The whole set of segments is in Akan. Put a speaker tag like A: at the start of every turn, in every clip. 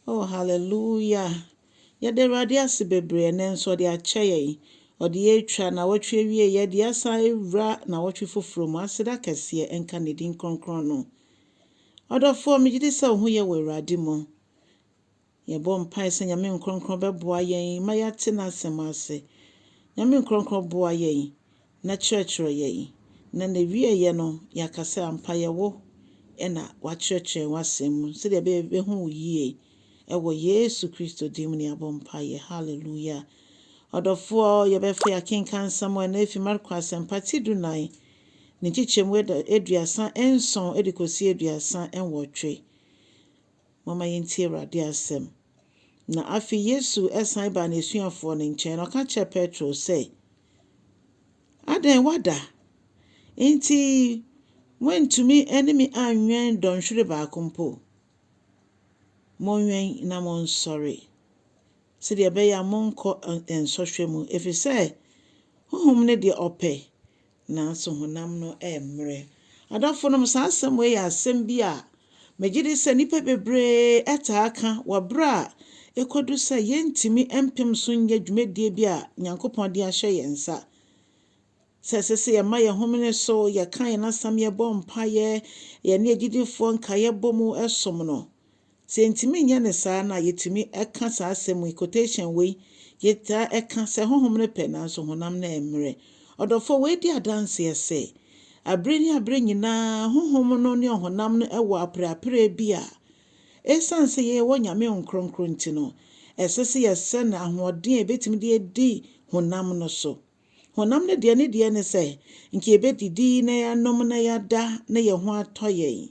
A: Oh hallelujah Yɛda Awurade ase bebree ɛnɛ nso ɔde akyɛ yɛn. Ɔde yɛn atwa nnawɔtwe awieeɛ de asan awura nnawɔtwe foforɔ mu. Aseda kɛseɛ nka ne din kronkron no. Ɔdɔfoɔ, megye di sɛ wo ho yɛ wɔ Awurade mu. Yɛbɔ mpae sɛ Nyame Nkorɔnkorɔn bɛboa yɛn ma yɛate n'asɛm ase. Nyame Nkorɔnkorɔn boa yɛn na kyerɛkyerɛ yɛn, na na ɛwieɛ no yɛaka sɛ ampa yɛ wo na woakyerɛkyerɛ yɛn w'asɛm mu sɛdeɛ ɛbɛyɛ yɛbɛhu wo yie. Ɛwɔ Yesu Kristo din mu na yɛabɔ mpaeɛ. Hallelujah. Ɔdɔfoɔ, yɛbɛfa yi akenkan nsɛm a ɛnɛ ɛfiri Marko Asɛmpa ti du nan, ne nkyekyɛmu aduasa nson de kɔsi aduasa nwɔtwe. Momma yɛntie Awurade asɛm. Na afei Yesu san baa n'asuafoɔ no nkyɛn, na ɔka kyerɛɛ Petro sɛ, Adɛn, woada? Enti moantumi ne me anwɛn dɔnhwere baako mpo? Monwɛn na monsɔre, sɛdeɛ ɛbɛyɛ a morenkɔ nsɔhwɛ mu, ɛfiri sɛ honhom ne deɛ ɔpɛ, nanso honam no remmrɛ. Adɔfonom, saa asɛm wei yɛ asɛm bi a megye di sɛ nnipa bebree taa ka wɔ bere a ekodu sɛ yɛrentumi mpem so nyɛ dwumadie bi a Nyankopɔn de ahyɛ yɛn nsa. Sɛ ɛsɛ sɛ yɛma yɛn homene so, yɛka yɛn asɛm, yɛbɔ mpaeɛ, yɛne agyidifoɔ nkaeɛ bɔ mu som no. Sɛ yɛntumi nyɛ no saa no a, yetumi ka saa asɛm yi, quotation wei, Yɛtaa ka sɛ honhom no pɛ nanso honam no mmrɛ. Ɔdɔfo wei di adanseɛ sɛ, Bere ne bere nyinaa honhom no ne ɔhonam no wɔ apereapereɛ bi a esiane sɛ yɛwɔ Nyame Honhom Kronkron nti no, ɛsɛ sɛ yɛsɛn ahoɔden a yɛbɛtumi de adi honam no so. Honam no deɛ ne deɛ ne sɛ nka yɛbɛdidi na yɛanom na yɛada na yɛn ho atɔ yɛn.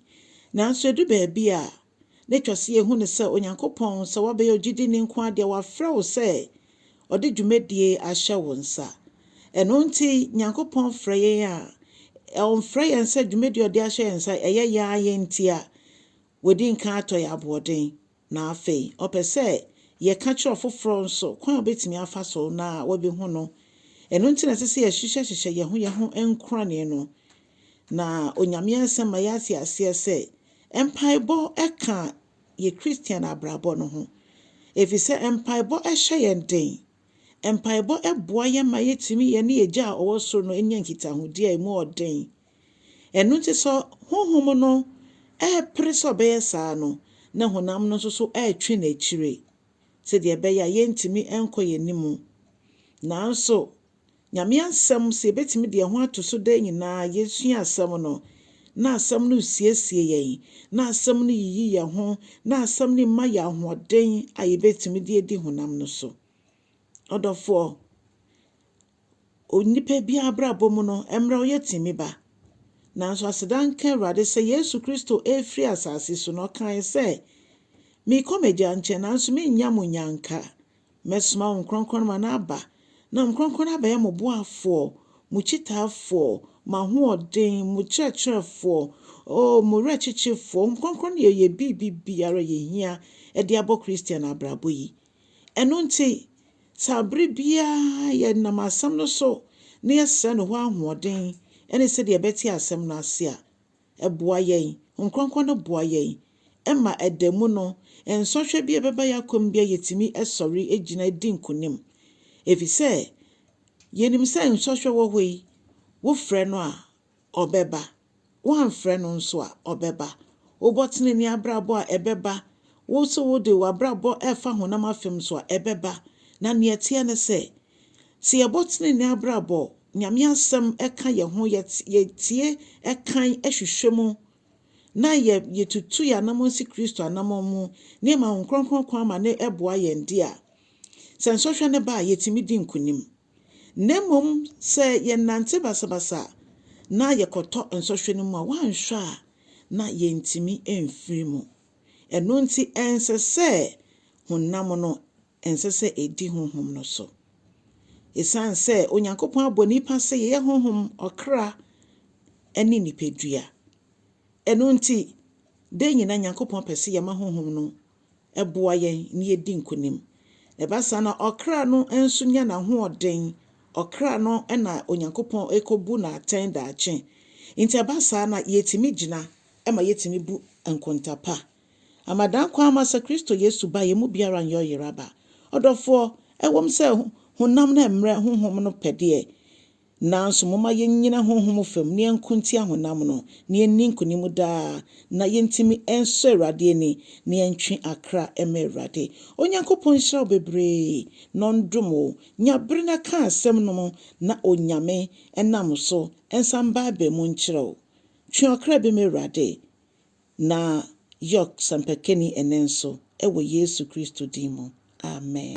A: Nanso ɛdu baabi a, na ɛtwa sɛ yɛhu no sɛ Onyankopɔn, sɛ woabɛyɛ ogyidini nko ara deɛ, wafrɛ wo sɛ ɔde dwumadie ahyɛ wo nsa. Ɛno nti, Nyankopɔn frɛ yɛn a, ɔmfrɛ yɛn sɛ dwumadie a ɔde ahyɛ yɛn nsa, ɛyɛ yɛn ara yɛn ntia. Wadi nkan atɔ yɛn aboɔden. Na afei, ɔpɛ sɛ yɛka kyerɛ ɔfoforɔ nso kwan a wɔbɛtumi afa so na wɔabɛhu no. Ɛno nti na ɛsɛ sɛ yɛhyehyɛhyehyɛ yɛn ho yɛn ho nkorane no. Na Onyame Asɛm ma yɛate aseɛ sɛ mpaebɔ ka yɛn Kristian abrabɔ no ho, ɛfiri sɛ mpaebɔ hyɛ yɛn den. Mpaebɔ boa yɛn ma yetumi yɛne Agya a ɔwɔ soro no nya nkitahodi a emu yɛ den. Ɛno nti sɛ honhom no repere sɛ ɔbɛyɛ saa no, na honam no nso so retwe no akyiri sɛnea ɛbɛyɛ a yɛrentumi nkɔ yɛn anim. Nanso, Nyame Asɛm, sɛ yɛbɛtumi de yɛn ho ato so daa nyinaa, yɛsua Asɛm no, na Asɛm no resiesie yɛn, na Asɛm no yiyi yɛn ho, na Asɛm no ma yɛn ahoɔden a yɛbɛtumi de adi honam no so. Ɔdɔfoɔ, onipa biara abrabɔ mu no, mmerɛ ɔyɛ tumi ba. Nanso aseda nka Awurade sɛ Yesu Kristo refiri asase so no, ɔkaeɛ sɛ, Merekɔ m'Agya nkyɛn, nanso merennya mo nnyanka. Mɛsoma Hom Krɔnkrɔn no ma no aba, na Hom Krɔnkrɔn no abɛyɛ mo boafoɔ, mo kyitaafoɔ, mo ahoɔden, mo kyerɛkyerɛfoɔ, oh, mo werɛkyekyefoɔ. Hom Krɔnkrɔn no yɛ yɛ biribibiara a yɛhia de abɔ Christian abrabɔ yi. Ɛno nti, sɛ abere biara yɛnam Asɛm no so na yɛsrɛ No hɔ ahoɔden ne sɛdeɛ yɛbɛte Asɛm no ase a, Ɛboa yɛn. Honhom Kronkron no boa yɛn ma ɛda mu no, nsɔhwɛ bi a ɛbɛba yɛn akwan mu biara yɛtumi sɔre gyina di nkonim. Efisɛ yɛnim sɛ nsɔhwɛ wɔ hɔ yi, wofrɛ no a, ɔbɛba. Woamfrɛ no nso a, ɔbɛba. Wobɔ tenenee abrabɔ a, ɛbɛba. Wo nso wode w'abrabɔ refa honam afem so a, ɛbɛba. Na nea ɛteɛ ne sɛ, Sɛ yɛbɔ tsenenee abrabɔ, Nyame asɛm ka hɛnho, yɛtsie kan hwehwɛ mu, na yetutu hɛn anamɔn si Kristo anamɔn mu, na yɛma Honhom Krɔnkrɔn kwan ma no boa hɛn dze a, sɛ nsɔhwɛ no ba a, yetumi dzi nkonyim. Na mbom sɛ yɛnantse basabasa na yɛkɔtɔ nsɔhwɛ no mu a, wɔannhwɛ a na yenntumi mmfir mu. Ɛno ntsi ɛnnsɛ sɛ honam no ɛnsɛ sɛ edi honhom no so. Esiane sɛ Onyankopɔn abɔ nnipa sɛ yɛyɛ honhom, ɔkra, ne nipadua. Ɛno nti, da nyinaa Nyankopɔn pɛ sɛ yɛma honhom no boa yɛn na yedi nkonim. Ɛba saa na ɔkra no nso nya n'ahoɔden. Ɔkra no na Onyankopɔn rekobu no atɛn daakye. Enti ɛba saa na yetumi gyina ma yetumi bu nkonta pa. Ama dan kwan ma sɛ Kristo Yesu ba a, yɛn mu biara nyɛ ɔyera ba. Ɔdɔfoɔ, ɛwom sɛ honam no mmrɛ Honhom no pɛ deɛ, nanso momma yɛnnyina honhom fam na yɛnko ntia honam no, na yɛnni nkonim daa, na yɛntumi nsɔ Awurade ani, na yɛntwe akra mma Awurade. Onyankopɔn nhyira wo bebree, na ɔndom wo. Nya bere na ka asɛm nom na Onyame nam so nsa mbaabaa mu nkyerɛ wo. Twe ɔkra bi ma Awurade. Na York sɛmpakani ɛnnɛ nso, wɔ Yesu Kristo din mu, amen.